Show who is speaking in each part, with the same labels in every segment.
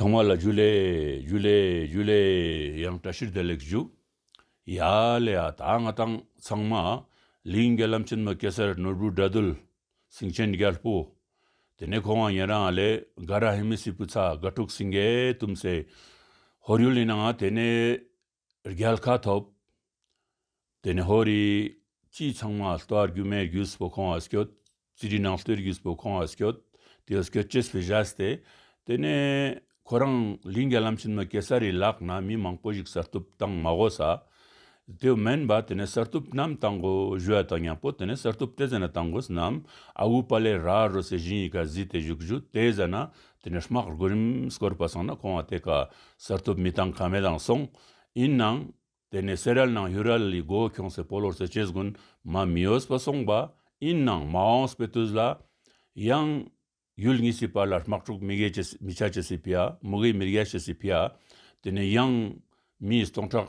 Speaker 1: ཚང་མ་ལ་བཞུགས་ལེ་བཞུགས་ལེ་བཞུགས་ལེ་ཡང་བཀྲ་ཤིས་བདེ་ལེགས་བཞུགས། ཡ་ལེ་ཡ་ད་ང་དང་ཚང་མ་ལིང་ག་ལམ་ཆེན་མ་གེ་སར་ནོར་བུ་དགྲ་གདུལ་སེང་ཆེན་རྒྱལ་པོ། དེ་ནས་ཁོང་བ་ཉེ་རང་ལེ་ག་ར་ཧེ་མི་སི་པུ་ཚ་དགའ་ཕྲུག་སིང་གེ་དུམ་སེ་ཧོར་ཡུལ་ཡིན་ནའང་དེ་ནས་རྒྱལ་ཁ་ཐོབ། དེ་ནས་ཧོར་རིགས་སྤྱི་ཚང་མ་ལྟོ་བར་རྒྱུ་མའི་རྒྱུས་སུ་བོ་ཁོང་བ་སྐྱོད། རྩིས་རིག་ནང་ལྟོའི་རྒྱུས་སུ་བོ་ཁོང་བ་སྐྱོད། དེ་བོ་སྐྱོད་ཅེས་སུ་བཞག་སྟེ། དེ་ནས་ཁོ་རང་ལིང་རྒྱ་ལམ་ཕྱིན་མ་གེ་སར་རིའི་ལག་ན་མི་མང་པོ་ཞིག་གསར་གཏུབ་དང་མ་གོ་ས། དེ་བོ་མན་བ་དེ་ནས་གསར་གཏུབ་རྣམས་དང་གོ་བཞུ་བ་དང་ཡང་བོ་དེ་ནས་གསར་གཏུབ་སྟེ་ཟ་ན་དང་གོ་ས་རྣམས་ཨ་བུ་པ་ལས་ར་རོ་སའི་བཞིན་ཡི་ག་བཟི་སྟེ་བཞུགས་བཞུགས་དེ་ཟ་ན་དེ་ནས་སྨག་རུ་གུ་རིམ་བསྐོར་བ་སོང་ན་ཁོང་བ་དེ་ག་སར་ཐུབ་མི་དང་ག་མེད་དང་སོང། ཡིན་ནང། དེ་ནས་སེ་རལ་ནང་ཧུ་རལ་ལི་སྒོ་ཁྱོང་སེ་པོ་ལོར་སེ་ཆེ་སྒུན་མ་མི་ཨོས་པ་སོང་བ། ཡིན་ནང་མ་ཨོངས་པའི་དུས་ལ། ཡང། ཡུལ་གཉིས་སི་པ་ལ་སྨག་ཕྲུག་མི་གེ་མི་ཆ་ཆེ་སི་པི་ཡ་མུ་གེ་མི་རྒྱ་ཆེ་སི་པི་ཡ། དེ་ནས་ཡང། མིས་སྟོང་ཕྲག།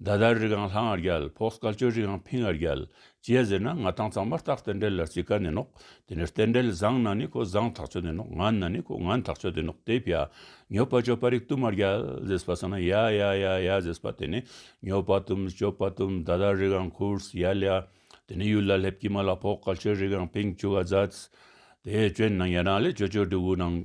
Speaker 1: མདའ་དར་རིགས་ཨང་ལྷ་ངར་རྒྱལ་ཕོག་སྐལ་ཅོལ་རིགས་ཨང་ཕིང་ངར་རྒྱལ། ཅེས་ཟེར་ན་ང་ཐང་ཚང་མར་སྟག་རྟེན་འབྲེལ་ལ་རྩི་ཀ་ནས་ནོག་དེ་ནས་རྟེན་འབྲེལ་བཟང་ན་ནི་ཁོ་བཟང་ཐག་ཆོད་ནས་ནོག་ངན་ན་ནི་ཁོ་ངན་ཐག་ཆོད་དེ་ནོག་དེ་ཕྱ། ཉོ་པ་སྤྱོད་པ་རིགས་གཏུམ་མར་རྒྱལ། ཟེས་པ་ཟེར་ན་ཡ་ཡ་ཡ་ཡ་ཟེས་པ་དེ་ནི་ཉོ་པ་གཏུམ་སྤྱོད་པ་གཏུམ་མདའ་དར་རིགས་ཨང་ཁུརས་ཡ་ལ་ཡ། དེ་ནི་ཡུལ་ལ་སླེབས་ཀྱི་མ་ལ་ཕོག་སྐལ་ཅོལ་རིགས་ཨང་ཕིང་བཅུ་ག་བཟའ། དེས་སྤྱོད་ནང་ཡ་ནང་ལས་སྤྱོད་སྤྱོད་སྒྲུབ་བུ་ནང།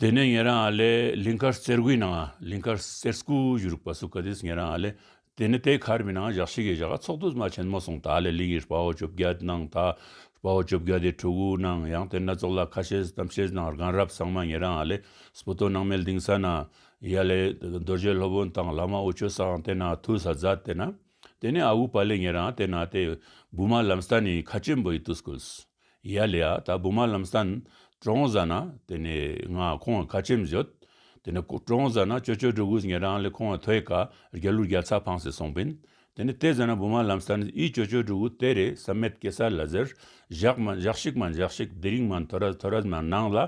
Speaker 1: དེ་ནས་ངེད་རང་ཨ་ལས་ལིང་ཁར་རྩེར་སྒུའི་ནང་ལིང་ཁར་རྩེར་སྐུ་བཞུགས་རིག་པ་སུ་ཀ་དེས་ངེད་རང་ཨ་ལས་དེ་ནི་དེ་ཁར་མི་ནང་བཞག་ཕྱི་གི་བཞག་ག་ཚོགས་དུ་མ་ཆེན་མོ་སོང་ད་ཨ་ལས་ལིང་ཡི་སྤ་བོ་བཅོ་བརྒྱ་ནང་ད་སྤ་བོ་བཅོ་བརྒྱ་དེ་ཕྲུ་གུའི་ནང་ཡང་དེ་སྣ་ཚོགས་ལ་ཁ་ཤེས་གཏམ་ཤེས་ནང་རྒན་རབས་ཚང་མ་ངེད་རང་ཨ་ལས་སྤུ་ཏོ་ནང་མལ་དིང་ས་ན་ཡི་ཨ་ལས་རྡོ་རྗེ་སློབ་དཔོན་དང་བླ་མ་དབུ་ཆོས་ས་ཨང་དེ་ན་ཐུ་ས་རྫ་དེ་ན་དེ་ནས་ཨ་བུ་པ་ལས་ངེད་རང་ཨ་དེ་ན་དེ་བུ་མ་ལམ་སྟ་ནི་ཁ་ཆེན་པོ་ཡི་ཏུ་སྐུལ། ཡ་ལེ་ཡ་ད་བུ་མ་ལམ་སང་ཀྲོང་ཟ་ན་དེ་ནས་ང་ཁོང་ལ་ཁ་ཆེམས་བཞོད་དེ་ནས་ཀྲོང་ཟ་ན་ཅོ་ཅོ་སྒྲོ་གུས་ངེད་རང་ལས་ཁོང་ལ་ཐོས་ཀ་རྒྱ་ལུག་རྒྱ་ཚ་ཕང་ཟེར་སོང་བིན་དེ་ནས་ཏེ་ཟ་ན་བུ་མ་ལམ་སང་ཨི་ཅོ་ཅོ་སྒྲོ་གུ་དེ་རེད་ས་མེད་ཀེ་ས་ལ་ཟེར་བཞག་མ་བཞག་ཤིག་མ་འཇག་ཤིག་དེ་རིང་མ་མཐོ་ར་མཐོ་ར་མ་གནང་ལ་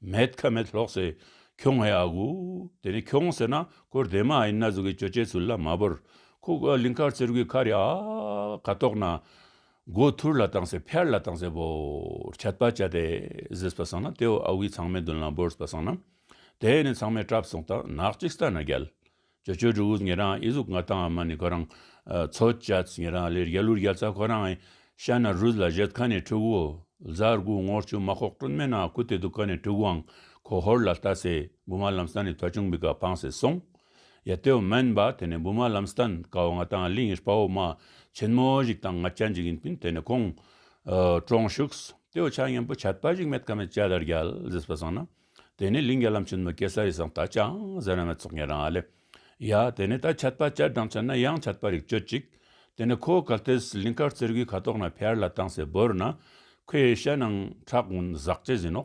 Speaker 1: མེད་ཁ་མེད་ལྷོག་ཟེར་ཁྱོང་ཨེ་ཨ་གུ་དེ་ནས་ཁྱོང་ཟེར་ན་ཁོ་རྡེ་མ་ཨེ་ན་ཟུ་གི་ཅོ་ཅེ་ཚུལ་ལ་མ་བོར་ཁོ་ལིང་ཁར་ཚེར་གུས་ཁ་རེ་ཨ་ག་ཏོག་ན། སྒོ་ཐུར་ལ་བཏང་ཚེ་ཕྱར་ལ་བཏང་ཚེ་བོར་བྱ་བཏགས་བྱ་དེ་བཟེད་པ་བཟང་ན་དེ་འོག་ཨ་བུའི་ཚང་མའི་མདུན་ལ་བོར་བ་བཟང་ན། དེས་ནི་ཚང་མས་བྲབ་སོང་ལྟ་ནག་གཅིག་ལྟ་ན་རྒྱལ། ཇོ་ཇོ་འབྲུག་འུར་ངེད་རང་ཨི་གཟུགས་ང་དང་ཨ་མ་ནི་ཁོ་རང། མཚོ་སྐྱབས་ངེད་རང་ལས་རྒྱལ་ལུར་རྒྱལ་ཚ་ཁོ་རང་ཨི། ཤ་ན་རུས་ལ་བཞད་ཁ་ནས་ཕྲུ་གུ། བཟའ་རྒུ་ངོར་ཆུ་མ་ཁོག་སྤྲོད་མེད་ན་ཁུ་དེ་དུ་ཁ་ནས་ཕྲུ་གུའང་ཁོ་ཧོར་ལ་ལྟ་ཚེ་དགུ་མ་ལམ་ས་ནས་ཐོ་ཆུང་མི་དགའ་ཕངས་སེ་སོང། ཡ་ལྟོས་མ་ཡིན་པ་དེ་ནས་འབུ་མ་ལམ་སྟན་ཀ་བ་ང་དང་གླིང་སྤ་བོ་མ་ཆེན་མོ་ཞིག་དང་ང་ཅན་ཅིག་ཡིན་ཕིན་དེ་ནས་ཁོང་གྲོངས་བཞུགས་ལྟོས་ཆ་སྙན་པོ་ཆད་པ་ཞིག་མེད་ཀ་མེད་ཅ་དར་རྒྱལ་ཟེར་སྤ་སང་ན་དེ་ནས་གླིང་རྒྱ་ལམ་ཆེན་མོ་ཀེ་སར་ཡི་སང་ད་ཅང་ཟེར་ན་མེད་ཚོགས་ངེད་རང་ཨ་ལས་ཡ་དེ་ནས་ད་ཆད་པ་ཅར་འགྲངས་ཆད་ན་ཡང་ཆད་པ་རིག་སྤྱོད་ཅིག་དེ་ནས་ཁོ་གལ་ཏེས་གླིང་དཀར་རྩེར་གུའི་ཁ་དོག་ན་ཕེར་ལ་བཏང་སའི་བོར་ན་ཁོའི་ཤ་ནང་ཁྲག་འུན་ཟག་ཅེས་ཟིན་ནོ།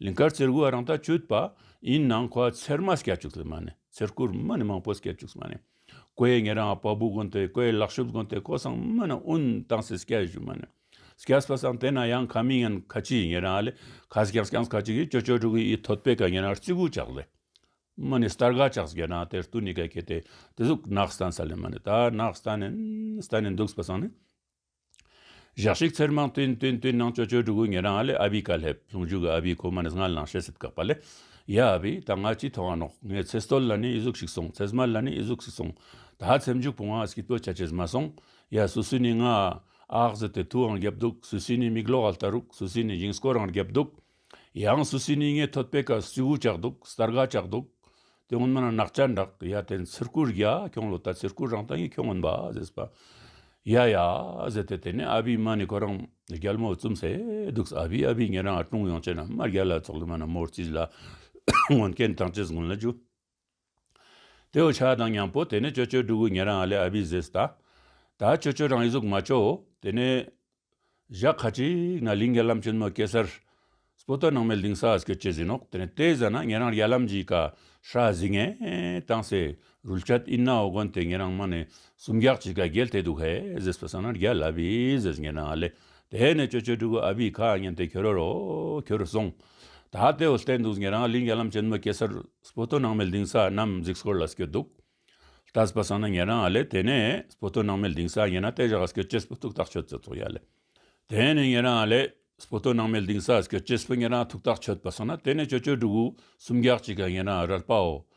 Speaker 1: ལིང་གར་ཙེར་བུ་རང་ལྟ་ཅུད་པ་ཡིན་ནང་ཁོ་ཚེར་མ་སྐྱ་བཅུག་སྲིད་མ་ནི་ཚེར་ཁུར་མ་ནི་མང་པོ་སྐྱ་བཅུག་སྲིད་མ་ནི་ཀོའི་ངེ་རང་བ་བུ་གོན་ཏེ་ཀོའི་ལག་ཤུབ་གོན་ཏེ་ཀོ་སང་མ་ནི་ཨུན་ཏང་སི་སྐྱ་བཞུ་མ་ནི་སྐྱ་སྤ་སང་དེ་ན་ཡང་ཁ་མི་ངན་ཁ་ཅི་ཡི་ངེ་རང་ལི་ཁ་སྐྱང་སྐྱང་ཁ་ཅི་གི་ཅོ་ཅོ་ཏྲུ་གི་ཡི་ཐོད་པའི་ཁ་ངེ་རང་རྩི་གུ་ཅག་ལི་མ་ནི་སྟར་ག་ཅག་སྒེ་རང་དེར་ཏུ་ནི་ག་གི་ཏེ་ཏི་ཟུག་ནག་སྟན་ས་ལི་མ་ནི་ད་ནག་སྟན་ནི་སྟན་ནི་འདུག་སྤ་སང་ནི། ཞག་ཞིག་ཚེར་མང་སྟོན་སྟོན་སྟོན་ནང་ཅོ་ཅོའི་གྲུ་གུ་ངེད་རང་ཨ་ལས་ཨ་བི་ཀ་སླེབས་ཟུང་འཇུག་གི་ཨ་བི་ཁོ་མ་ནི་སྔར་ལངས་ཤས་སེབས་དགག་པ་ལས། ཡ་ཨ་བི་ད་ང་ཅི་མཐོང་ཨ་ནོག་ངས་ཚེ་སྟོད་ལ་ནི་ཨི་གཟུགས་ཤིག་སོང་ཚེ་སྨད་ལ་ནི་ཨི་གཟུགས་ཤིག་སོང་ད་ཧ་ཚེམ་འཇུག་བུང་ཨ་སྐྱིད་པོ་ཆ་ཆེས་མ་སོང་ཡ་སུ་སུ་ནི་ང་ཨ་ཨག་ཟི་དེ་ཐུའང་རྒྱབ་འདུག་སུ་སུས་ནི་མིག་ལོག་ཨ་ལྟ་རུག་སུ་སུས་ནི་འཇིང་སྐོར་རང་རྒྱབ་འདུག། ཡང་སུ་སི་ནི་ངའི་ཐོད་པའི་ཁར་སུའུ་བཅག་འདུག་སྟར་ག་བཅག་འདུག་དེ་ངོ་མ་ན་ནག་ཅག་འདྲག་ཡ་དེ་ནི་ཚིར་ཁུར་ཡ་ཁྱོང་ལོ་ད་ཚིར་ཁུར་རང་ད་ཡིན་ཁྱོང་ངོན་པ་ཟེས་པ་ཡ་ཡ་ཟེས་ཏེ་དེ་ནས་ཨ་བིའི་མ་ནི་ཁོ་རང་རྒྱལ་མོ་བཙུམ་ཟེ་འདུག་ཨ་བིས་ཨ་བིའི་ཉེ་རང་ཨ་ཀྲུང་ཡོང་བྱས་ན་མ་རྒྱལ་ལ་ཚོགས་ལི་མ་ན་མོར་བཅིས་ལ་ངོན་ཀན་ཐང་ཅེས་ངོན་ལ་རྒྱུ། དེ་འོ་ཆགས་དང་མྱང་པོ་དེ་ནས་ཅོ་ཅོའི་སྤྲུལ་སྐུ་ཉན་རང་ཨ་ལས་ཨ་བྷི་ཟེས་ད། ད་ཅོ་ཅོ་རང་ཡིག་གཟུགས་མ་ཅོ་དེ་ནས། བཞག་ཁ་ཅིག་ན་ལིང་ག་ལམ་ཆེན་མོ་ཀེ་སར། སྤོ་ཏོ་ནང་མའི་ལིང་སཱ་ཀེ་ཅེ་ཟི་ནོག་དེ་ནས་ཏེ་ཟ་ན་ཉན་རང་རྒྱ་ལམ་གྱི་ཀ་ཧྲ་ཟི་ངན་དང་སེ་རུལ་ཆ་ཏིན་ན་འོ་གོན་དེ་ཉན་རང་མ་ནས་སུམ་བརྒྱག་གྱི་ཀ་རྒྱལ་དེ་འདུག་ཧེ་ཟེས་པ་ཟ་ན་རྒྱ་ལ་བྷི་ཟེས་ཉན་རང་ཨ་ལས་དེ་ནས་ཅོ་ཅོའི་ཕྲུ་གུ་ཨ་བྷིས་ཁ་སྙན་དེ་ཁྱོད་རོ་ཁྱོད་རོ་གསུངས། ད་ལྟའི་འོ་སྟེ་འདུག་ངེད་རང་གླིང་རྒྱ་ལམ་ཅན་མ་སྐྱེས་སར་སྤོ་ཏོ་ནང་མའི་གླིང་ས་རྣམས་གཟིགས་སྐོར་ལ་སྐྱོད་འདུག། ད་སྤ་སང་ན་ངེད་རང་ཨ་ལས་དེ་ནས་སྤོ་ཏོ་ནང་མའི་གླིང་ས་ངེད་རང་ལྟས་བཞག་སྐྱོད་ཅེས་སྤོ་ཐུག་ཐག་ཆོད་ཙེ་ཐོག་ཡ་ལས། དེ་ནས་ངེད་རང་ཨ་ལས་སྤོ་ཏོ་ནང་མའི་གླིང་ས་སྐྱོད་ཅེས་སྤོ་ངེད་རང་ཐུག་ཐག་ཆོད་སྤ་སང་ན་དེ་ནས་ཅོ་ཅོའི་ཕྲུ་གུ་སུམ་བརྒྱག་ཅིག་ག་ངེད་རང་ཨ་རར་སྤའོ།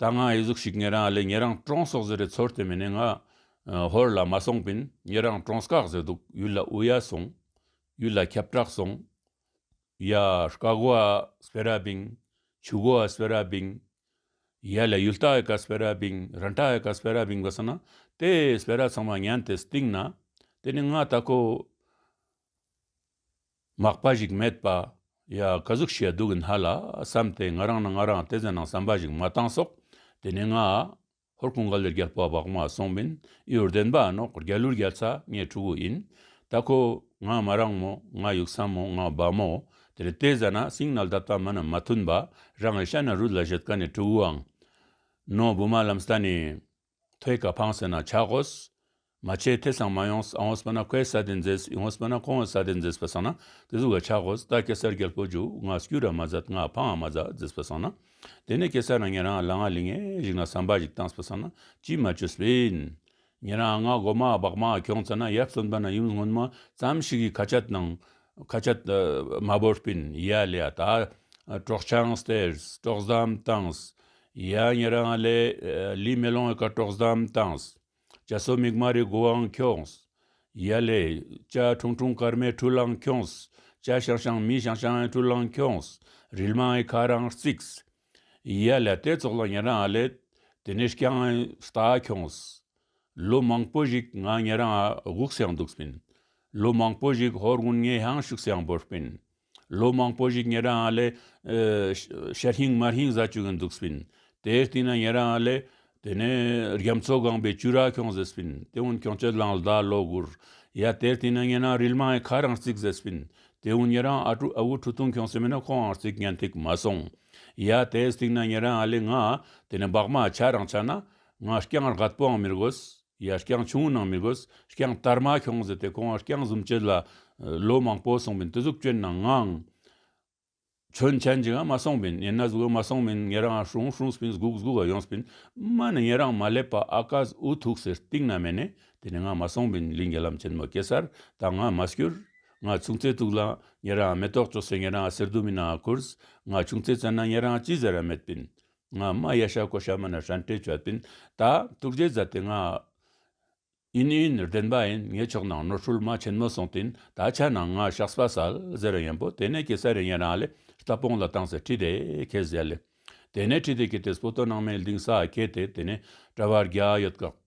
Speaker 1: ད་ང་ཨེ་གཟུགས་ཤིག་ངེད་རང་ཨ་ལས་ངེད་རང་ཀྲོང་སོགས་ཟེར་རེད་ཚོར་དེ་མིན་ནས་ང་ཧོར་ལ་མ་སོང་པིན་ངེད་རང་ཀྲོང་སྐག་ཟེར་འདུག་ཡུལ་ལ་ཨུ་ཡ་སོང་ཡུལ་ལ་ཁྱབ་བྲག་སོང་ཡ་སྐགོ་ཨ་སྤེ་ར་པིན་ཆུ་གོ་ཨ་སྤེ་ར་པིན་ཡ་ལ་ཡུལ་རྟ་ཨེ་ཀ་སྤེ་ར་པིན་ར་འདྲ་ཨེ་ཀ་སྤེ་ར་པིན་གོ་ས་ན་དེ་སྤེ་ར་ཚང་མ་ཉན་དེ་སྟིང་ན་དེ་ནི་ང་ད་ཁོ། མག་པ་ཞིག་མེད་པ། ཡ། བཀའ་གཟུགས་ཞེ་སྡུག་གི་སྣ་ལ་བསམ་སྟེ་ང་རང་ནི་ང་རང་བལྟས་ཚེ་ནང་བསམ་པ་ཞིག་མ་བཏང་སོགས་དེ་ནས་ང། ཧོར་ཀུན་དགའ་ལས་རྒྱལ་པོ་བག་མ་སོང་མིན་ཨི་ཡོར་དན་པ་ཨ་ནོག་རྒྱལ་ལུར་རྒྱལ་ཚ་ངའི་ཕྲུ་གུ་ཡིན་ད་ཁོ། ང་མ་རང་མོ་ང་ཡུག་ས་མོ་ང་བ་མོ་དེ་རེ་བལྟས་ཟ་ན་སིང་ནལ་ད་ལྟ་མ་ན་མ་མཐུན་པ་རང་གི་ཤ་ན་རུས་ལ་བཞོད་ཀ་ནས་ཕྲུ་གུའང། ནོ་བུ་མ་ལམ་ས་ནས། ཐོད་ཀ་འཕང་ཟེར་ན་ཆག་གོ། མ་བྱས་དེ་སང་མ་ཡོང་ཨང་ཨོསཔ་ན་ཁོའི་ས་དེ་མཛེས་ཨིང་ཨོསཔ་ན་ཁོང་གི་ས་དེ་མཛེས་པ་སང་ན་དེ་ཟུག་ག་ཆག་གོ་ད་སྐྱེ་སར་རྒྱལ་པོ་འཇུག་ང་སྐྱུ་ར་མ་ཛ་ང་ཕ་ང་མ་ཛ་མཛེས་པ་སང་ན་དེ་ནས་སྐྱེ་སར་ང་ཉན་རང་ལ་ང་ལི་ངན་ཞིག་ན་བསམ་པ་ཞིག་བཏང་སྤ་སང་ན་ཅི་མ་ཅོས་པིན། ཉན་རང་ང་སྒོ་མ་སྦག་མ་གྱོང་ཚ་ན་ཡབ་གསོན་པ་ན་ཡུམ་སྔོན་མ་ཙམ་ཞིག་གི་ཁ་ཆ་དང། ཁ་ཆ་མ་བོར་པིན་ཡ་ལི་ཡ་ད། གྲོགས་ཆང་སྟེར་གྲོགས་ཟམ་བཏང། ཡ་ངའི་རང་ཨ་ལས་ལི་མེ་ལོང་གི་སྐར་གྲོགས་བཟའ་འམ་བཏངས། ཇ་སོ་མིག་དམར་རི་འགོ་འམ་འཁྱོངས། ཡ་ལེ། ཇ་ཁྲུང་ཁྲུང་སྐར་མའི་འཁྲུལ་བླངས་འཁྱོངས། ཇ་ཤང་ཤང་མིའི་ཤང་ཤང་ཨའི་འཁྲུལ་བླངས་འཁྱོངས། རིལ་མང་ཨའི་ཁ་རང་བརྩིགས། ཡ་ལེ་དེ་ཚོགས་ལ་ངའི་རང་ཨ་ལས་དེ་ནས་རྐྱང་ཨའི་རྟ་ཨ་འཁྱོངས། ལོ་མང་པོ་ཞིག་ང་ངའི་རང་ཨ་དགུག་སེང་འདུག་སྤིན། ལོ་མང་པོ་ཞིག་ཧོར་དགུན་ངའི་ཧང་ཤུག་སེང་འབོར་སྤིན། ལོ་མང་པོ་ཞིག་ངེད་རང་ལ་ཤ་ཧྲིང་མ་ཧྲིང་བཟའ་བཅུག་གིན་འདུག་སྤིན། དེའི་སྟེང་ན་ངེད་རང་ལ། དེ་ནས་རྒྱ་མཚོ་སྒང་པའི་ཅུ་རག་ཁྱོང་ཟེར་སྤིན། དེ་ཝུན་ཁྱོང་སྤྱོད་ལངས་ཟླ་ལོ་དགུར། ཡ། དེའི་སྟེང་ན་ངེད་རང་རིལ་མ་ཡི་ཁ་རང་བརྩིགས་ཟེར་སྤིན། དེ་ཝུན་ངེད་རང་ཨ་ཀྲུ་ཨ་བུ་ཁྲུ་ཐུང་ཁྱོང་སེ་མེད་ན་ཁོའང་བརྩིགས་ཉན་ཐིག་མ་སོང། ཡ། དེའི་སྟེང་ན་ངེད་རང་ལ་ང། དེ་ནས་འབག་མ་ཆ་རང་ཆ་ན། ང་རྐྱང་རག་པོའང་མི་དགོས། ཡ་རྐྱང་ཆུང་ནང་མི་དགོས། རྐྱང་བསྟར་མ་ཤོང་ཟེར་ཏེ་ཁོང་རྐྱང་བཟུང་བྱེད་ལ། ལོ་མང་པོ་སོང་མིན་དུ་གཟུགས་སྐྱོན་ནང་ངང། ཆོས་མཆན་ཅིག་འང་མ་སོང་མིན་ཡིན་ན་གཟུགས་འང་མ་སོང་མིན་ངེད་རང་འང་ཧྲུང་ཧྲུང་སྤིན་གཟུགས་གཟུགས་འང་ཡོང་སྤིན། སྨྲ་ནི་ངེད་རང་མ་སླེབས་པ་ཨ་ཀཱས་འུ་ཐུག་ཟེར་སྟིང་ན་མེད་ནས་དེ་ནི་འང་མ་སོང་མིན་ལིང་གེ་ལམ་ཆེན་མོ་སྐྱེ་སར་དང་འང་མ་བསྐྱུར། འང་ཆུང་ཚེ་ཐུག་ལ་ངེད་རང་འང་མེ་ཏོག་བཅོ་ཟེར་ངེད་རང་འང་གསེར་རྡུལ་མིན་ནའང་ཁུར། འང་ཆུང་ཚེ་བཙལ་ན་ངེད་རང་འང་ཅི་ཟེར་འང་མེད་སྤིན། ང་རྨ་གཡས་ཤར་ཀོ་ཤར་མ་ན་ཧྲན་ཏྲེ་ཅོ་པིན་ད་ཏུར་རྗེ་བཟའ་ཏི་ང། ཨིན་ཨིན་ནུར་ལྡན་པ་ཨིན་ངའི་ཕྱོགས་ནང་ནོར་འཁྲུལ་མ་ཆེན་མོ་སོང་ཏིན་ད་ཆ་ནང་ང་ཤགས་སྤ་སལ་ཟེར་ར་ཡན་པོ་དེ་ནས་ཀི་སལ་རེ་ཡན་རང་ལེ་རྟ་སྤོང་ལ་བཏང་ཟེར་ཁྲི་དེ་ཁེ་ཟེར་ལེ་དེ་ནས་ཁྲི་དེ་ཁེ་དེ་སྤོ་ཏོ་ནང་མའི་ལྡིང་ས་ཁེ་དེ་དེ་ནས་གྲ་བར་རྒྱ་ཡོད་ཀག།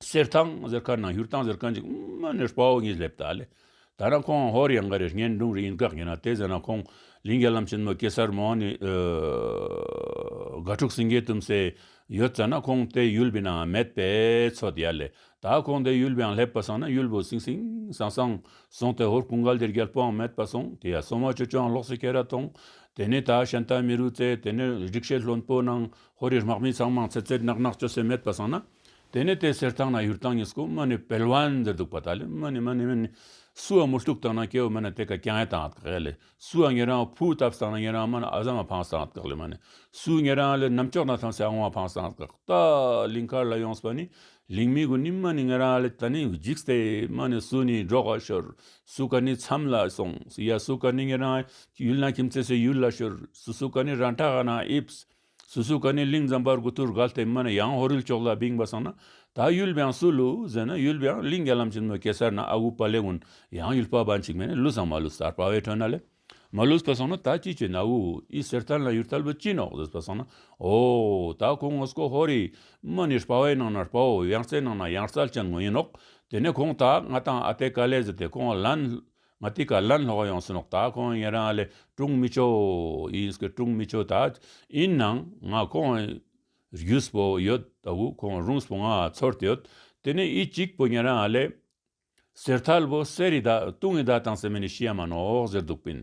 Speaker 1: གསེར་ཐང་ཟེར་ཁ་ན་ཡུར་ཐང་ཟེར་ཁ་འཇིག་རྨོ་ནས་སྤའོ་གཉིས་སླེབས་ད་ལེ། ད་རང་ཁོང་ཧོར་ཡང་ག་རེ་ངན་འབྲུང་རེ་ཡིན་དགག་ཡིན་ན་དེ་ཟེར་ན་ཁོང་ལིང་གའི་ལམ་ཆེན་མོ་སྐེ་སར་མོ་ནི་དགའ་ཕྲུག་སིང་གའི་དུམ་སེ་ཡོད་ཙ་ན་ཁོང་དེ་ཡུལ་བི་ནའང་མེད་པས་ཚོ་དེ་ཡ་ལེ་ད་ཁོང་དེ་ཡུལ་བིའང་སླེབས་པ་སང་ན་ཡུལ་བུ་སིང་སིང་སང་སང་སོང་དེ་ཧོར་ཀུང་ག་ལྡེར་རྒྱལ་པོའང་མེད་པ་སོང་དེ་ཡ་སོང་བ་ཆུ་ཆུའང་ལོགས་སུ་ཁྱེར་ར་ཐོང་དེ་ནི་ད་ཤན་རྟ་མི་རུ་ཙེ་དེ་ནི་རིག་བྱེད་ལྷོན་པོ་ནང་ཧོར་རིའི་དམག་མི་ཚང་མང་ཚེ་ཚེར་ནག་ནག་སྤྱོད་སེམས་མེད་པ་བཟང་ན། དེ་ནས་དེ་སེར་ཐང་ན་ཡུར་ཐང་ངེས་ཀུ་མ་ནི་བལ་བན་ཟེར་འདུག་པ་ད་ལི་མ་ནི་མ་ནི་མ་ནི། སུ་བ་མུ་ལྟུག་བཏང་ན་སྐྱེ་བོ་མི་ན་དེ་ག་ཀྱང་ཡ་ཏང་ཨ་ཏག་ཨེ་ལི་སུ་བ་ངེ་རང་བུ་ཏབ་བཏང་ན་ངེ་རང་མ་ན་ཨ་ཟ་མ་ཕང་སྟང་ཨ་ཏག་ལི་མ་ནི་སུ་ངེ་རང་ལི་ནམ་ཅོག་ན་ཐང་སེ་ཨ་ངོ་མ་ཕང་སྟང་ཨ་ཏག་ཏ། ལིང་ཁར་ལ་ཡོངས་པ་ནི་ལིང་མི་གུ་ནི་མ་ནི་ངེ་རང་ལི་ད་ནི་འཇིགས་ཏེ་མ་ནི་སུ་ནི་འབྲོག་ཨ་ཤོར་སུ་ག་ནི་མཚམས་ལ་སོང་སི་ཡ་སུ་ག་ནི་ངེ་རང་ཡུལ་ན་ཁྱིམ་ཚེ་སི་ཡུལ་ལ་ཤོར་སི་སུ་ག་ནི་རང་ཁྲ་ཧ་ན་ཨིབས་སི། སུ་སུ་ཀ་ནི་གླིང་ཛམ་པར་གུ་ཐུར་གཱལ་ཏེ་མ་ནི་ཡང་ཧོ་རིལ་ཅོག་ལ་བིང་བ་སང་ན་ད་ཡུལ་བྷེང་སུ་ལུ་ཟེ་ན་ཡུལ་བྷེང་གླིང་རྒྱ་ལམ་ཅིན་མོ་གེ་སར་ན་ཨ་ཝུ་པ་ལེ་ཝུན་ཡང་ཡུལ་པ་བ་འཇིགས་མེད་ནི་ལུ་སང་མ་ལུ་སར་པ་བའི་ཁྲོད་ན་ལེ་མ་ལུས་པ་སང་ན་ད་ཅི་ཅི་ན་ཝུ་ཨི་སེར་ཐལ་ན་ཡུལ་ཐལ་བུ་ཅིན་ཨོག་ཟེས་པ་སང་ན་ཨོ་ད་ཁོང་ངོ་སྐོ་ཧོ་རི་མ་ནི་སྤ་བའི་ནང་ན་སྤ་བོ་ཡང་རྩེ་ནང་ན་ཡང་རྩལ་ཅན་ངོ་ཡིན་ཨོག་དེ་ནས་ཁོང་ད་ང་དང་ཨ་ཏེ་ཀ་ལེ་ཟེ་ཏེ་ཁོང་ལན་ང་ལྟའི་ག་ལ་ལྷག་ཡོང་སོང་ལགས་ད་ཁོང་ཡིན་རང་ལས་དཀྲུག་མི་ཆོག་ཡིན་སྐད་དཀྲུག་མི་ཆོག་ད་ཡིན་ནང་ང་ཁོང་རྒྱུས་པོ་ཡོད་ད་བུ་ཁོང་རུངས་པོ་ང་ཚོར་དེ་ཡོད་དེ་ནས་ཡིད་གཅིག་པོ་ཡིན་རང་ལས་ཟེར་ཐལ་བོ་གསེར་ཡི་ད་དུང་ཡི་ད་དང་སེ་མེ་ནི་ཤི་ཡ་མ་ནོག་ཟེར་འདུག་པིན་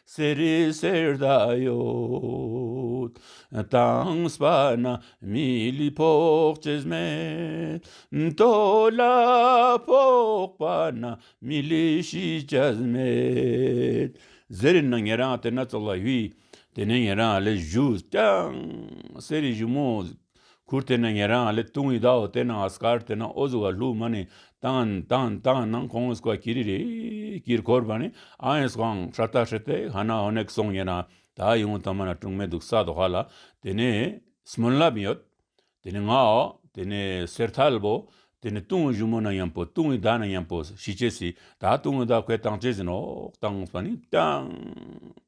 Speaker 1: གསེར་རི་གསེར་ད་ཡོད་དྭངས་པ་ན་མི་ལུས་ཕོག་ཅེས་སྨྲས། རྡོ་ལ་ཕོག་པ་ན་མི་ལུས་ཤི་ཅེས་སྨྲས། གསེར་རི་ནི་ངེད་རང་དེ་སྣ་ཚོགས་ལ་དབྱུས། དེ་ནས་ངེད་རང་ལས་བཞུགས་ཀྱང། གསེར་རི་བཞུགས་མོད། ཁུར་དེ་ནི་ངེད་རང་ཨ་ལེ་ཏུང་ཡི་དྭོགས་དེ་ནང་ཨ་སྐར་དེ་ནང་ཨོ་ཟུ་བ་ལྷུག་མ་ནི་ཏང་ཏང་ཏང་ནང་ཁོང་ཨོ་ཟུ་བ་ཀི་རི་རི་ཀིར་འཁོར་བ་ནི་ཨང་ཨེ་སོང་ཧྲ་ཏ་ཧྲི་ཏའི་ཧ་ན་ཨོ་ནེག་སོང་ངེད་རང་ད་ཡིན་ངོ་ཐོ་མ་ན་ཀྲུང་མེ་འདུག་ས་དོ་ཧ་ལ་དེ་ནི་སྨོན་ལམ་ཡོད་དེ་ནི་ང་ཨོ་དེ་ནི་སེར་ཐལ་བོ་དེ་ནི་ཏུང་ཨོ་གཞུ་མོ་ན་ཡང་པོ་ཏུང་ཡི་དྭོགས་ན་ཡང་པོ་ཞི་བྱེད་སྲིད་ད་ཏུང་ཡི་དྭོགས་ཁོས་ཏང་བྱེད་ཟིན་ཨོ་ཏང་ཨོ་ཟུ་བ་ནི་ཏང།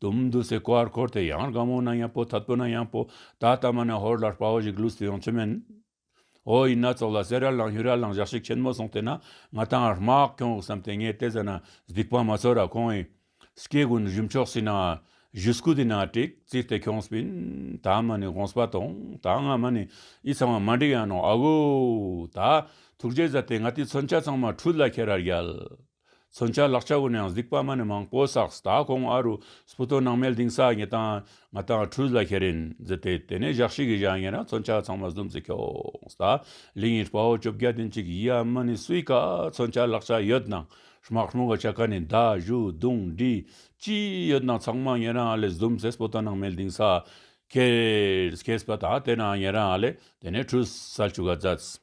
Speaker 1: དུམ་བསྡུ་སའི་ཀོ་ཨར་ཁོར་དེ་ཡང་རྒ་མོ་ན་ཡང་པོ་ཐ་དོ་ན་ཡང་པོ་ད་ལྟ་མ་ན་ཧོར་ལར་དཔའ་བོ་ཞིག་ལུས་སུ་ཡོང་ཚོད་མེད། ཨོ་ཡིན་ན་ཚོགས་ལ་གསེར་ར་ལང་ཤུ་ར་ལང་བཞག་ཤིག་ཁྱེད་མོ་སོང་དེ་ན་ང་ད་རྨག་གྱོང་འུག་བསམ་དེ་ངས་བལྟས་ཟ་ན་སྡིག་པ་མ་ཚོར་ར་ཁོང་ཨི། སྐྱེ་དགུ་ནི་བཞུ་མཆོག་སྲིད་ན་བཞུ་སྐུ་དེ་ན་དྲེག་རྩིས་དེ་ཁྱོང་སྤིན་ད་མ་ནི་གོང་སྤ་དོང་ད་ང་མ་ནི་ཨི་ཚང་བ་མ་འགྲིག་ཡང་ནོ་ཨ་བོ། ད་ཐུགས་རྗེ་བཟའ་དེ་ང་དེ་མཚོན་ཆ་ཚང་མ་ཁྲུས་ལ་ཁྱེར་ར་རྒྱལ། མཚོན་ཆ་ལག་ཆ་དགོས་ནའང་གཟིགས་པ་མ་ནི་མང་པོ་བསགས་ད་གོང་ཨ་རུ་སྤུ་ཏོ་ནང་མལ་དིང་སག་ངེ་དང་ང་དང་ཁྲུས་ལ་ཁེ་རིན་ཛི་དེ་དེ་ནས་བཞག་ཤིག་གིས་བཞག་ངེ་ན་མཚོན་ཆ་ཚང་མ་ཟུམ་ཟི་ཁྱོགས་ད་ལིང་ཡིན་དཔའ་བོ་བཅོ་བརྒྱད་དེ་འཇིག་ཡིད་ཨ་མ་ནི་སུའི་ཀ་མཚོན་ཆ་ལག་ཆ་ཡོད་ནང་སྨག་ལྷུང་ག་ཆ་ཀ་ནི་མདའ་གཞུ་རྡུང་འདྲི་ཅི་ཡོད་ནང་ཚང་མ་ངེ་ན་ཨ་ལེ་ཟུམ་ཟེ་སྤུ་ཏོ་ནང་མལ་དིང་སག་ཁེ་ཁེས་པ་ད་དེ་ན་ངེ་ན་ཨ་ལེ་དེ་ནས་ཁྲུས་ཟ་ཆུ་ག་རྫས།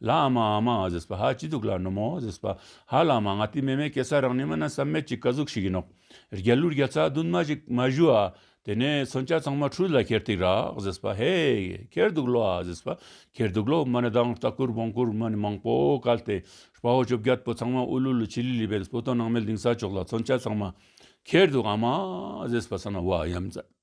Speaker 1: ལ་ཨ་མ་ཨ་མ་ཨ་ཟེས་པ་ཧ་ཅི་སྡུག་ལ་ནུ་མོ་ཨོ་ཟེས་པ་ཧ་ལ་མ་ང་ཏི་མེ་མེ་སྐད་ས་རང་ནི་མ་ན་བསམ་མེད་ཀྱི་ཀ་ཟུག་ཞིག་ཡིན་ནོ། རྒྱ་ལུ་རྒྱ་ཚ་རྡུན་མ་ཞིག་མ་ཞུ་ཨ། དེ་ནས་མཚོན་ཆ་ཚང་མ་ཁྲུས་ལ་ཁྱེར་ཐིག་རག་ཟེས་པ་ཧེ། ཁྱེར་འདུག་ལོ་ཨ་ཟེས་པ་ཁྱེར་འདུག་ལོ་མ་ནི་དང་ལྟ་སྐུར་བོང་སྐུར་མ་ནི་མང་པོ་བཀལ་ཏེ་སྤ་བོ་བཅོ་བརྒྱད་པོ་ཚང་མ་ཨུ་ལུ་ལུ་ཆི་ལི་ལི་བས་སྤུ་སྟོང་ནང་མལ་ལྡིང་ས་ཅོག་ལ་མཚོན་ཆ་ཚང་མ་ཁྱེར་འདུག་ཨ་མ་ཨ་ཟེས་པ་ས་ན་བ་ཡམ་ཛ།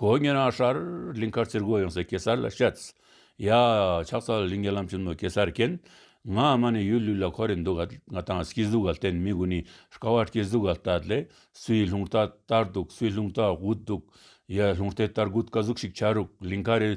Speaker 1: གོ་བོ་ཉོན་རང་ཧྲཱི། ལིང་མཁར་རྩེར་སྒོ་ཡངས་སེ་གེ་སར་ལ་ཤཱཙྪ། ཡ། ཕྱག་ཚ་ལ་ལིང་རྒྱ་ལམ་གྱི་ནོར་གེ་སར་རྐྱེན། ང་ཨ་མ་ནི་ཡུལ་ལུས་ལ་ཁོ་རེ་འདུག་ག་ང་དང་སྐྱིད་གཟུགས་ག་ལྟན་མི་དགུ་ནི་ཀ་བ་སྐྱིད་གཟུགས་ག་ལྟ་ལེ། སུའི་ལྷུང་རྟ་བསྟར་འདུག་སུའི་ལྷུང་རྟ་དགུ་འདུག། ཡ། ལྷུང་རྟའི་བསྟར་དགུ་དཀའ་གཟུགས་ཤིག་ཆགས་རུག་ལིང་མཁར་རེ།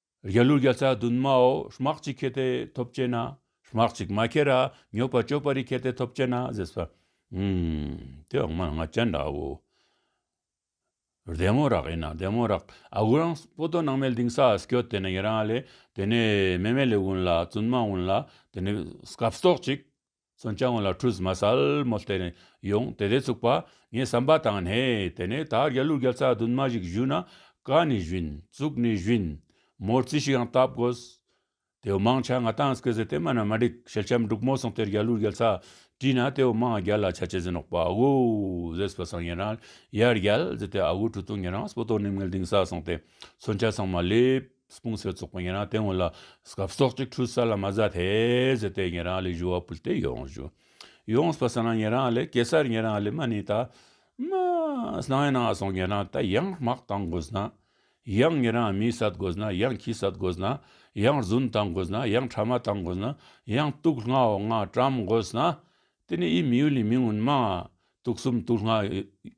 Speaker 1: རྒྱལ་གླུ་བརྒྱ་རྩ་བདུན་མའོ་སྨག་གཅིག་ཁྱེར་ཏེ་ཐོབ་བསྐྱེད་ན། སྨག་གཅིག་མ་ཁྱེར་ར་མྱོས་པ་སྤྱོད་པ་རིགས་ཁྱེར་ཏེ་ཐོབ་བསྐྱེད་ན་ཟེར། སྦྱར་བའི་འོག་མ་ལ་ང་རྒྱལ་འདྲ་བའོ། བདེ་མོ་རག་ཡིན་ན་བདེ་མོ་རག། ཨ་ཁུ་རང་སྤོ་ཏོ་ནང་མལ་དིང་སཱ་སྐྱོ་དེ་ནས་ཡི་རང་ལས་དེ་ནས་མེ་མལ་ལས་དབུན་ལ་བཙུན་མ་དབུན་ལ་དེ་ནས་སྐབས་སྟོག་ཅིག། མཚོན་བྱ་ངོ་ལ་ཁྲུས་མ་སལ་མོ་བསྟན་ནས་ཡོང་དེ་དེ་ཚུགས་པ་ངས་བསམ་པ་དང་ནས་དེ་ནས་ད་རྒྱ་ལུག་རྒྱ་ཚ་རྡུན་མ་ཞིག་བཞུས་ན་ཀ་ནས་བཞུན་བཙུགས་ནས་བཞུན་མོར་རྩིས་ཞིག་ཡང་བཏབ་དགོས། དེའུ་དམངས་ཆ་ང་ཏང་སྐེ་ཟེར་དེ་མ་ན་མ་འགྲིག་ཞལ་ཆམ་འབྲུག་མོ་སོང་དེར་རྒྱ་ལུག་རྒྱ་ཚ་བྲིས་ན་དེའུ་དམངས་རྒྱ་ལ་ཆ་ཆེ་ཟེར་ནོག་པ་ཨ་གུ་ཟེས་པ་སང་ཉལ་ན་ཡར་རྒྱལ་ཟེར་དེ་ཨ་གུ་གྲུ་ཐུང་ཉལ་ན་སྤོ་ཏོ་ནིམ་ངལ་དིང་ས་སོང་དེ་མཚོན་ཆ་ཚང་མ་སླེབས། སྤུངས་སེ་ཙོག་པོ་ཡིན་རང་དེ་ངོ་ལ་སྐབས་སོག་ཅིག་འཁྲུལ་ས་ལ་མ་ཟ་ཐེ་ཟེར་ཏེ་ཡིན་རང་ལས་བཞུ་བ་ཕུལ་ཏེ་ཡོངས་བཞུ་ཡོངས་སྤ་ས་ན་ཡིན་རང་ལས་གེ་སར་ཡིན་རང་ལས་མ་ནི་ད་མ་སྣང་ཡིན་རང་སོང་ཡིན་རང་ད་ཡང་དམག་དང་དགོས་ན་ཡང་ཡིན་རང་མི་ཟ་དགོས་ན་ཡང་ཁྱི་ཟ་དགོས་ན་ཡང་རྫུན་དང་དགོས་ན་ཡང་ཁྲ་མ་དང་དགོས་ན་ཡང་གཏུགས་ལྔ་འོ་ལྔ་བཀྲམ་དགོས་ན་དེ་ནི་ཡིད་མི་ཡུལ་ལས་མི་མངོན་མ་གཏུགས་གསུམ་གཏུགས་ལྔ།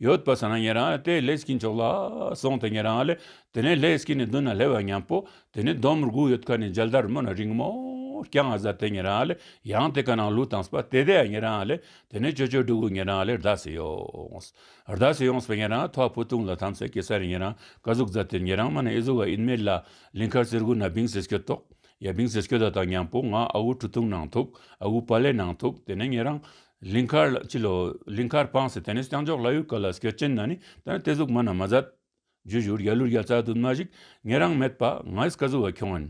Speaker 1: ཡོད་པར་བསམ་ན་ཉེ་རང་དེ་ལས་སྐྱིད་མཆོག་ལ་སོང་སྟེ་ཉེ་རང་ལས་དེ་ནས་ལྷའི་སྐྱིད་ནི་མདུན་ན་ལྷའི་བ་ཉམས་པོ་དེ་ནི་ལྡོམ་རྒུ་ཡོད་ཁ་ནས་འཇལ་དར་མོ་ན་རིང་མོ་རྐྱང་ང་ཟ་དེ་ཉེ་རང་ལས་ཡང་དེ་ཁ་ནང་ལུག་དང་སྤ་དེ་དེ་ཡང་ཉེ་རང་ལས་དེ་ནས་ཅོ་ཅོ་འབྲུག་གུ་ཉེ་རང་ལས་རྡ་སེ་ཡོངས་རྡ་སེ་ཡོངས་པའི་ཉེ་རང་ཐོག་ཕུ་ཐུང་ལ་དམ་སེ་གེ་སར་རི་ཉེ་རང་ཀ་གཟུག་རྫ་དེར་ཉེ་རང་མ་ན་ཨེ་གཟུག་བ་ཨིན་མེད་ལ་ལིང་ཁར་གསེར་གུ་ན་བིང་སེ་སྐྱོ་ཏོག་ཡ་བིང་སེ་སྐྱོ་ད་དང་ཉམས་པོ་ང་ཨ་གུ་གྲུ་ཐུང་ནང་ཐུག་ཨ་གུ་བ་ལས་ནང་ཐུག་དེ་ནས་ཉེ་རང། ལིང་ཁར་ལ་བྱིད་ལོ། ལིང་ཁར་སྤངས་སེ་དེ་ནས་རྐྱང་འཇོག་ལ་ཡོད་སྐད་ལ་སྐད་ཅན་ན་ནི་དེ་ནི་དེ་གཟུགས་མ་ན་མ་ཟད། རྒྱུ་བཞུར་རྒྱ་ལུར་རྒྱ་རྩ་དུ་མ་ཞིག་ངེད་རང་མེད་པ་ང་ཡིས་བཀའ་ཟུར་བ་ཁྱོད་ཨེན།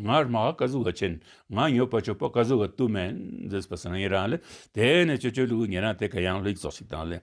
Speaker 1: ང་རྨ་ཧ་བཀའ་ཟུར་བ་ཆེན་ང་ཉོས་པ་ཆོས་པ་བཀའ་ཟུར་བ་དུ་མ་ཨེན། ཟེར་སྲིད་པ་སང་ངེད་རང་ལས་དེ་ནས་ཆོས་ཆོས་ལུགས་ངེད་རང་དེ་ག་ཡང་ལུས་རྫོགས་ཤིག་དང་ལས།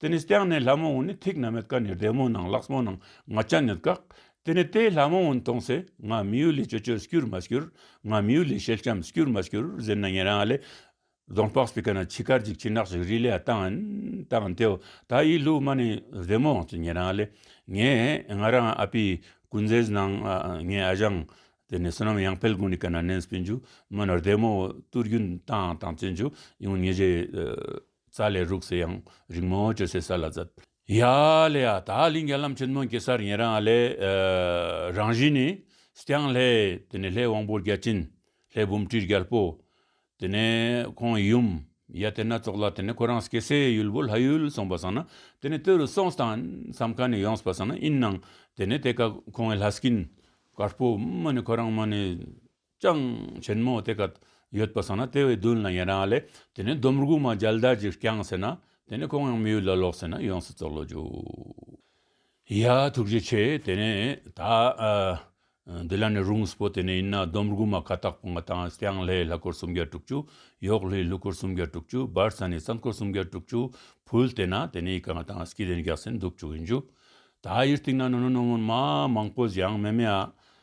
Speaker 1: དེ་ནས་སྟེང་ནས་ལྷ་མོ་འོན་ནི་ཐིག་ན་མེད་ཀ་ནས་བདེ་མོ་ནང་ལགས་མོ་ནང་ང་སྤྱན་ནུས་བཀག། དེ་ནས་དེས་ལྷ་མོ་འོན་མཐོང་ཚེ་ང་མི་ཡུལ་ལས་ཅོ་ཅོར་སྐྱུར་མ་སྐྱུར། ང་མི་ཡུལ་ལས་ཤེལ་ལྕམ་སྐྱུར་མ་སྐྱུར་ཟེར་ན་ངེད་རང་ལས། རྫོང་ལྤགས་སྤི་ཀ་ན་ཆི་ཁར་འཇིགས་ཆི་ནག་ཞིག་རི་ལས་ལྟ་འན། ལྟ་འན་དེའོ་ད་ཡིས་ལུག་མ་ནི་བདེ་མོའང་ཚུ་ངེད་རང་ལས། ངས་ང་རང་ཨ་ཕི་ཀུན་ཛའི་ཟནང་ངའི་ཨ་ཞང། དེ་ནས་བསོད་ནམས་ཡང་ཕལ་གུང་ནི་ཀ་ན་ནན་སྤི་འཇུག་མོ་ནི་བདེ་མོའོ་ཏུར་རྒྱུན་ལྟ་འན་ལྟ་འན་ཚུ་འཇུག་ཡུང་ཉི་ཞེས། རྩ་ལས་རུག་སེ་ཡང་རིག་མོ་བཅོས་སའི་ས་ལ་རྩ། ཡ་ལེ་ཡ། ད་གླིང་རྒྱ་ལམ་ཆེན་མོ་གེ་སར་ཡན་རང་ཨ་ལས། རང་བཞིན་ནི། སྐྱང་ལྷས། དེ་ནས་ལྷའི་དབང་པོ་བརྒྱ་བྱིན། ལྷའི་བུམ་བཀྲིས་རྒྱལ་པོ། དེ་ནས་ཁོང་ཡུམ། ཡ་དེ་སྣ་ཚོགས་ལ་དེ་ནས་ཁོ་རང་གེ་སའི་ཡུལ་བོ་ལྷ་ཡུལ་སོང་པར་བསམ་ན་དེ་ནས་ལྟོས་རུ་སོང་སྟངས་སམ་ཁ་ནས་ཡོངས་པར་བསམ་ན་ཨིན་ནང་དེ་ནས་དེ་ཀ་ཁོང་ཨེ་ལྷ་སྐྱིན། དཀར་པོ། མ་ནི་ཁོ་རང་མ་ནི། ཅང་ཆེན་མོ་དེ་ག་ཡོད་པ་སོང་ན་དེ་བས་བདུན་ལ་ཡན་རང་ལས་དེ་ནས་འདོམ་རྒུ་མ་འཇལ་དར་གྱིས་བསྐྱངས་ཟེར་ན་དེ་ནས་ཁོང་ཡང་མི་ཡུལ་ལ་ལོག་ཟེར་ན་ཡོངས་སུ་བཙོག་ལོ་རྒྱུ། ཡ། ཐུགས་རྗེ་ཆེ་དེ་ནས་ད་འདི་ལ་ནས་རུང་སྤོ་དེ་ནས་ཡིན་ན་འདོམ་རྒུ་མ་ཁ་ཏག་པོ་ང་དང་བསྐྱངས་ལྷའི་ལྷ་འཁོར་སུམ་བརྒྱ་དྲུག་ཅུ་ཡོག་ལྷའི་ལྷུ་འཁོར་སུམ་བརྒྱ་དྲུག་ཅུ་འབར་ས་ནས་ས་འཁོར་སུམ་བརྒྱ་དྲུག་ཅུ་ཕུལ་དེ་ན་དེ་ནས་ཡི་ག་ང་དང་སྐྱིད་ལྡན་རྒྱག་སེ་འདུག་བཅུག་ཡིན་རྒྱུ། ད་ཡུལ་སྟེང་ན་ནོ་ནོ་ནོ་མོན་མ་མང་པོ་བཞེངས་མེད་མེད་ཨ།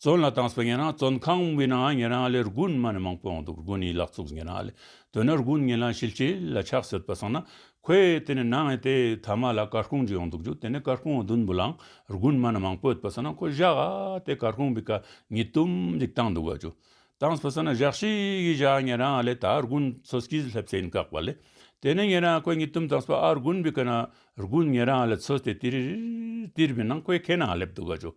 Speaker 1: བཙོན་ལ་བཏང་སོང་ངེད་རང་བཙོན་ཁང་དབུས་ནའང་ངེད་རང་ལས་རྒུན་དམའ་ནས་མང་པོ་ཡོང་འདུག་རྒུན་ཡིག་ལག་ཚུགས་ངེད་རང་ལས་དོན་ན་རྒུན་ངེད་ལངས་ཤིལ་ཆེ་ལ་ཆགས་སྲོད་པ་སོང་ན་ཁོས་དེ་ནས་ནངས་ཡིན་ཏེ་ཐ་མ་ལ་སྐར་ཁུང་ཅིག་ཡོང་འདུག་རྒྱུ་དེ་ནས་སྐར་ཁུང་བ་བདུན་བུ་ལངས་རྒུན་དམའ་ནས་མང་པོ་ཡོད་པ་སོང་ན་ཁོ་བཞག་ཨ་དེ་སྐར་ཁུང་བུས་ཀ་ཉིས་གཏུམ་ཅིག་བཏང་འདུག་ག་ཅུ་བཏང་སོང་ན་བཞག་ཤིག་གིས་བཞག་ངེད་རང་ལས་ད་རྒུན་ཚོ་སྐྱིད་སླེབས་ཚེ་ཡིན་བཀག་པ་ལས་དེ་ནས་ངེད་རང་ཁོས་ཉིས་གཏུམ་བཏང་སོང་ཨ་རྒུན་བུས་ཀ་ན་རྒུན་ངེད་རང་ལས་ཚོས་ཏེ་ཏིར་ཏིར་བུས་ནང་ཁོས་ཁའི་ནང་སླེབས་འདུག་ག་ཅུ།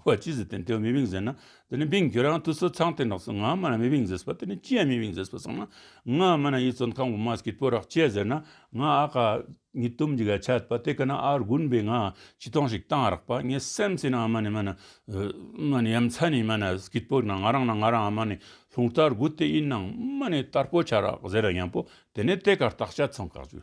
Speaker 1: ཁོ་ལ་ཅི་ཟེར་དེ་འདྲའི་མི་དབྱིངས་ཟེར་ན་དེ་ནི་མིག་འགྱུར་རང་དུ་སོ་ཚང་དེ་ནགས་སུ་ངའང་སྨྲ་ན་མི་དབྱིངས་ཟེར་བ་དེ་ནི་ཅི་ཡང་མི་དབྱིངས་ཟེར་བ་ཚང་མ་ངའང་སྨྲ་ན་ཡིད་བཙོན་ཁང་བུ་མ་ཀི་པོ་རག་བྱས་ཟེར་ན་ང་ཨ་ཁ། ཉིས་སྟོང་གི་ག་ཆད་པ་དེ་ག་ན་ཨ་རྒུན་པས་ང་ཆི་ཐོང་ཞིག་བཏང་རག་པ་ངས་སེམས་ཟིན་ཨ་མ་ནི་སྨྲ་ན། སྨྲ་ནི་ཡ་མཚན་ནི་སྨྲ་ན་ཀི་པོ་ན་ང་རང་ན་ང་རང་ཨ་མ་ནི་ལྷུང་ལྟར་སྒུག་དེ་ཡིན་ནང་སྨྲ་ནི་དར་པོ་ཆག་རག་ཟེར་ར་ཡང་པོ་དེ་ནས་དེ་གར་བརྟག་དཔྱད་ཚང་ག་ཅུ།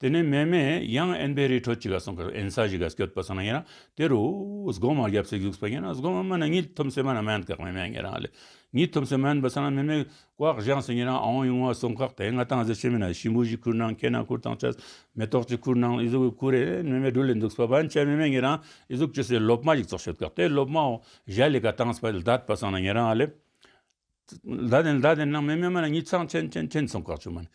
Speaker 1: དེ་ནས་མེ་མེ་ཡང་ཨེན་པའི་རི་ཁྲོད་ཅིག་ལ་སོང་ཁར་ཨེན་ས་ཞིག་ག་སྐྱོད་པ་སོང་ན་ཡིན་རང་དེ་རུ་སྒོ་མང་རྒྱབ་ཚད་བཞུགས་སོང་ཡིན་རང་སྒོ་མང་མ་ན་ཉིད་ཐུམ་སེ་མ་ན་མ་ཡན་ཁག་མེ་མེ་ངེད་རང་ལས་ཉིད་ཐུམ་སེ་མ་ཡན་པ་སོང་ན་མེ་མེ་ཀོག་བཞེངས་སོང་ཡིན་རང་ཨོང་ཡུང་བ་སོང་ཁག་དེ་ང་ཏང་གཟེར་ཆེན་མི་ན་ཤིང་བུ་བཞི་ཁུར་ནང་ཁེ་ན་ཁུར་དང་ཆ་མེ་ཏོག་གཅིག་ཁུར་ནང་ཨི་གཟུགས་གི་ཁུར་ཨེན་མེ་མེ་སྦྲུལ་ལེ་འདུག་སོ་བ་ཨེན་ཆ་མེ་མེ་ངེད་རང་ཨི་གཟུགས་ཅི་སེ་སློབ་མ་ཞིག་ཚོགས་ཤོད་ཁག་དེ་སློབ་མའོ་གཞལ་ལི་ཀ་ཏང་སྤ་ལ་བདའ་པ་སོང་ན་ངེད་རང་ལས། ཟླ་དེ་ཟླ་དེ་ནང་མི་སྨད་མ་ལ་ཉིད་ཚང་ཆེན་ཆེན་ཆེན་ཚང་བཀག་ཆོག་མ།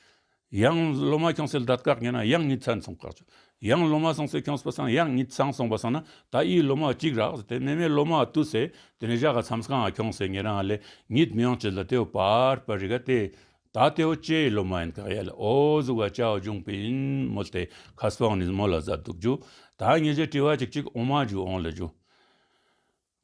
Speaker 1: ཡང་ལོ་མ་ཁྱང་སེལ་ཟླ་བཀག་ཉེ་ན་ཡང་ཉིད་ཚང་ཚང་བཀག་ཆོག་ཡང་ལོ་མ་སང་སེ་ཁྱང་སྤུ་སང་ཡང་ཉིད་ཚང་སང་བ་སང་ན་ད་ཨིའི་ལོ་མ་གཅིག་རག་ཟེ་དེ་མི་སྨད་ལོ་མ་ཏུ་ཟེ་དེ་ནས་བཞག་ག་ཚམས་སང་ཨ་ཁྱང་སེ་ཉེ་རང་ཨ་ལེ་ཉིད་མི་ཡང་བྱེད་ལ་དེའོ་པར་པར་རི་ག་དེ་ད་དེའོ་ཅེའི་ལོ་མ་ཡིན་ག་ཡ་ལེ་ཨོ་གཟུག་ག་ཅའོ་འབྱུང་པི་ཨིན་མོ་དེ་ཁ་སྤང་ནིས་མོ་ལ་ཟ་འདུག་འཇུ་ད་ཉེ་ཆེ་དྲི་བ་ཅིག་ཅིག་འོང་མ་འཇུ་འོང་ལེ་འཇུ།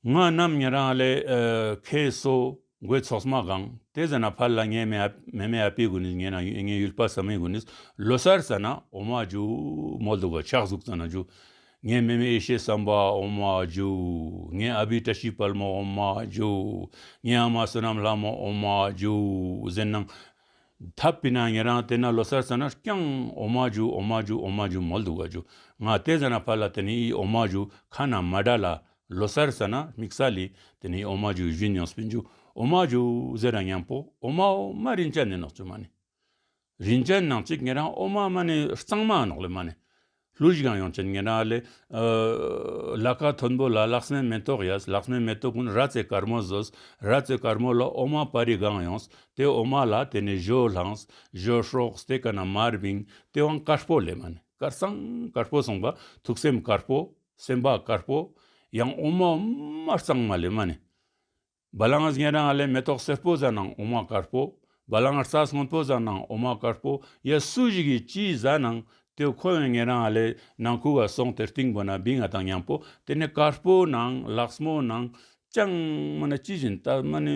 Speaker 1: ངག་རྣམས་ཉན་རང་ལས་མཁས་སོ། སྒོས་ཚོགས་སམ་གང་དེ་ཟ་ན་ཕར་ལ་ངའི་མེ་མེ་ཨ་ཕའི་དགུན་ནས་ངའི་ནང་ཡུལ་ངའི་ཡུལ་ཕ་ཟ་མའི་དགུན་ནས་ལོ་སར་ཟ་ན་འོ་མ་ཇོ་མོ་བདུག་པ་ཕྱག་གཟུགས་ཟ་ན་ཇོ་ངའི་མེ་མེ་ཨེ་ཤེ་སམ་པ་འོ་མ་ཇོ་ངའི་ཨ་ཕའི་བཀྲ་ཤིས་དཔལ་མོ་འོ་མ་ཇོ་ངའི་ཨ་མ་བསོད་ནམས་ལྷ་མོ་འོ་མ་ཇོ་ཟེར་སྣང། ཐ་པི་ན་ཉན་རང་དེ་ན་ལོ་སར་ཟ་ན་རྐྱང་འོ་མ་ཇོ་འོ་མ་ཇོ་འོ་མ་ཇོ་མོ་བདུག་པ་ཇོ་ངག་དེ་ཟ་ན་ཕར་ལ་དེ་ནས་ཨི་འོ་མ་ཇོ་ཁ་ན་མ་དགྲ་ལ་ལོ་སར་ཟ་ན་མིག་ཟ་ལི། དེ་ནས་ཨོ་མ་ཇོའི་བཞིན་ཉང་སྤུན་ཇོ། ཨོ་མ་ཇོ། ཟེར་རང་ཉང་པོ། ཨོ་མ་ཨོ་མ་རིན་ཅལ་ནི་ནག་ཆུ་མ་ནི། རིན་ཅལ་ནང་གཅིག་ངེད་རང་ཨོ་མ་མ་ནི་གཙང་མ་ནག་ལོ་མ་ནི། ལུས་ཞིག་ཡང་ཡོང་ཅན་ངེད་རང་ལི། ལ་ཁ་མཐོན་པོ་ལ་ལག་སྨན་མེ་ཏོག་ཡོད་ལག་སྨན་མེ་ཏོག་ཀུན་ར་རྩེ་དཀར་མོ་བཟོས་ར་རྩེ་དཀར་མོ་ལ་ཨོ་མ་པ་རི་སྒང་ཡོང་དེ་ཨོ་མ་ལ་དེ་ནས་ཇོ་ལྷངས་ཇོ་ཧྲོགས་དེ་ག་ན་མར་བིང་སྟེ་བང་དཀར་པོ་ལེ་མ་ནི་དཀར་གཙང་དཀར་པོ་སོང་པ་ཐུགས་སེམས་དཀར་པོ། སེམས་དཔའ་དཀར་པོ་ཡང་དབུ་མ་དམར་གཙང་མ་ལས་མ་ནི། བ་ལང་གཟན་རང་ལས་མེ་ཏོག་སེར་པོ་བཟའ་ནའང་དབུ་མ་དཀར་པོ། བ་ལང་རྩྭ་སྔོན་པོ་བཟའ་ནའང་དབུ་མ་དཀར་པོ་ཡ་སུ་ཞིག་གིས་ཅི་བཟའ་ནའང་དེ་ཁོ་བས་ངན་རང་ལས་ནང་ཁུལ་བ་སོང་དེར་ཏིང་པོ་ན་བི་ང་དང་མཉམ་པོ་དེ་ནས་དཀར་པོ་ནའང་ལགས་མོ་ནའང་ཅང་མ་ན་ཅི་བཞིན་ཏཱ་མ་ནི།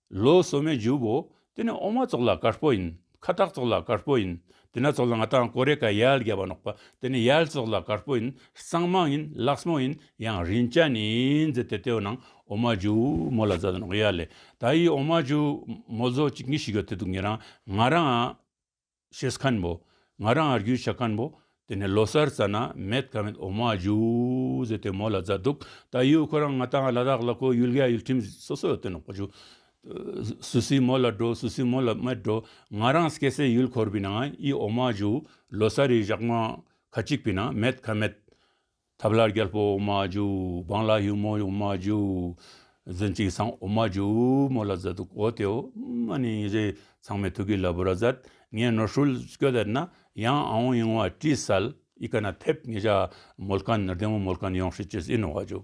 Speaker 1: ལོ་སོ་མའི་རྒྱུ་བོ། དེ་ནི་ཨོ་མ་ཙོག་ལ་དཀར་པོ་ཡིན། ཁ་བཏགས་ཙོག་ལ་དཀར་པོ་ཡིན། དེ་ནག་ཙོག་ལ་ང་དང་ཀོ་རེ་ཀ་ཡལ་རྒྱ་བ་ནོག་པ། དེ་ནི་ཡལ་ཙོག་ལ་དཀར་པོ་ཡིན། གཙང་མ་ཡིན་ལགས་མོ་ཡིན། ཡང་རིན་ཅ་ནི་འཛེ་ཏེ་ཏེའོ་ནང་ཨོ་མ་རྒྱུ་མོ་ལ་བཟའ་ནོག་ཡལ་ལེ། ད་ཡིས་ཨོ་མ་རྒྱུ་མོ་བཟོ་ཅིག་ངི་ཞིག་ཡོ་ཏེ་འདུག་ངི་རང་ང་རང། ཤེས་ཁན་པོ། ང་རང་ཨར་གུས་བྱ་ཁན་པོ། དེ་ནས་ལོ་སར་རྩ་ན་མེད་ཁ་མེད་འོ་མ་ཇུ་ཟེར་དེ་མོ་ལ་རྫ་འདུག་ད་ཡོད་ཁོ་རང་ང་དང་ལ་དྭགས་ལ་ཁོ་ཡུལ་ག་ཡུལ་ཁྲིམས་སོ་སོ་ཡོད་དོན་ནོ་ཇུ། སུ་སི་མོ་ལ་འགྲོ་སུ་སི་མོ་ལ་མེད་འགྲོ། ང་རང་སྐྱེ་སའི་ཡུལ་འཁོར་བི་ན་ཡི་འོ་མ་ཇུ། ལོ་སར་ཡི་བཞག་མ་ཁ་གཅིག་བི་ན་མེད་ཁ་མེད། ཐབས་ལ་རྒྱལ་པོ་འོ་མ་འཇུ། འབངས་ལ་ཡུ་མོ་འོ་མ་འཇུ། བརྫུན་གཅིག་ཚང་འོ་མ་འཇུ། མོ་ལ་བཟའ་ཐུག་འོ་དེ་འོ། མ་ནི་ཡིན་ཟེར་ཚང་མས་ཐུག་གི་ལ་བུ་ར་བཟའ། ངས་ནོར་ཧྲུལ་སྐྱོ་དེར་ན། ཡང་ཨའོ་ཡིང་བ་ཀྲི་སལ། ཡི་ག་ན་ཐེབས་ངེས་བྱ། མོལ་ཁ་ནི་རྡེ་མོ་མོལ་ཁ་ནི་ཡོང་ཧྲི་ཅི་སི་ནོ་བ་འཇུ།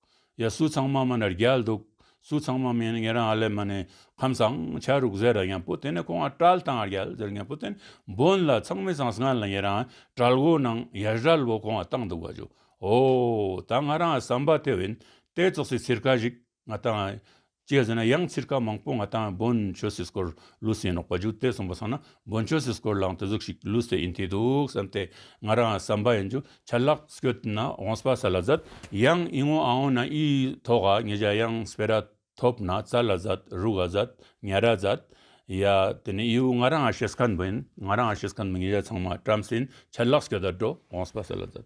Speaker 1: ཡ་སུ་ཚང་མ་མ་ནར་རྒྱལ་འདུག། སུ་ཚང་མ་མིན་ངེད་རང་ཨ་ལེ་མ་ནས་ཁམས་བཟང་ཆ་རུག་ཟེར་ར་ཡང་པོ་དེ་ནས་ཁོང་ཨ་བྲལ་དང་ཨ་རྒྱལ་ཟེར་ངེད་པོ་དེ་ནས་འབོན་ལ་ཚང་མི་ཚང་སྔན་ལ་ངེད་རང་ཨ་བྲལ་བོ་ནང་ཡ་བྲལ་བོ་ཁོང་ཨ་བཏང་འདུག་བ་ཇོ་ཨོ་ད་ང་རང་ཨ་བསམ་པ་དེ་བིན་ཏེ་ཙོག་སི་ཚིར་ཁ་ཞིག་ང་ཏང་ཅེས་ཟེར་ན་ཡང་ཚིག་རྐང་མང་པོ་ང་དང་བོན་ཆོས་སྲིད་སྐོར་ལུས་སེང་ལོག་པ་རྒྱུགས་ཏེ་གསུངས་པ་སོང་ན་བོན་ཆོས་སྲིད་སྐོར་ལའང་དེ་གཟུགས་ཤིག་ལུས་སེ་ཡིན་ཐེ་འདུག་བསམ་སྟེ་ང་རང་བསམ་པ་ཡིན་རྒྱུ་ཆ་ལགས་སྐྱོད་ན་འོངས་པ་ས་ལ་ཟད་ཡང་ཡིན་འོང་ཨང་འོང་ན་ཡིས་ཐོག་ག་ཉེ་བྱ་ཡང་སྤེ་ར་ཐོབ་ན་ཙ་ལ་ཟད་རུ་ག་ཟད་ཉལ་ར་ཟད་ཡ་དེ་ནས་ཡིའུ་ང་རང་ཤེས་སྐད་འབུ་ཡིན་ང་རང་ཤེས་སྐད་འབུ་ཉེ་བྱ་ཚང་མ་བཀྲམ་སེ་ཡིན་ཆ་ལགས་སྐྱོད་ད་འགྲོ་འོངས་པ་ས་ལ་ཟད།